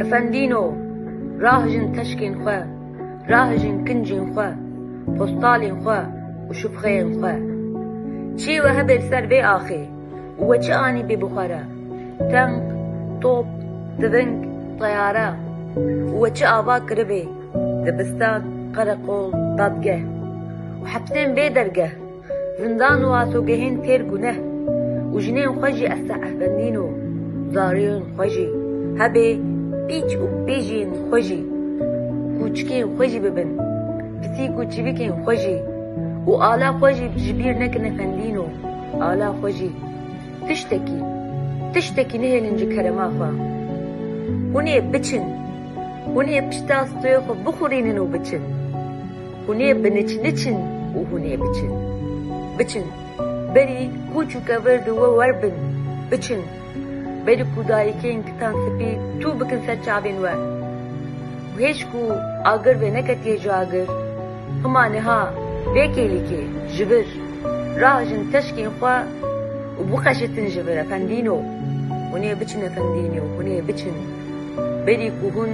Efendîno, rahijin teşkên xwe, rahijin kincên xwe, postalên xwe û şûfxeyên xwe. Çî we hebê li ser vê axê û we çi anîbê bi xwe re, tenk, top, tiving, teyare û we çi ava kiribê, dibistan, qereqol, dadgeh û hepsên bê dergeh. Zindan û asogehên têr guneh û jinên xwe jî esta ehvendîn û zarîyên xwe jî hebê pîç û pêjiyên xwe jî û kûçikên xwe jî bibin pisîk û çivîkên xwe jî û ala xwe jî ji bîr nekin efendîn û ala xwe jî tiştekî tiştekî nehêlin ji kerema xwe hûn ê biçin hûn ê pişta stoyê xwe bixurînin û biçin. Hûn ê bi niç niçin û hûn ê biçin. Biçin. Berî koç û kevir di we wer bin. Biçin. Berî ku dayikên kitan sipî tû bikin ser çavên we. Û hêj ku agir vê neketiye ji agir, hima niha vê kêlîkê ji vir rahijin teşkên xwe û bixeşitin ji vir efendîno. Hûn ê biçin efendîno, hûn ê biçin. Berî ku hûn.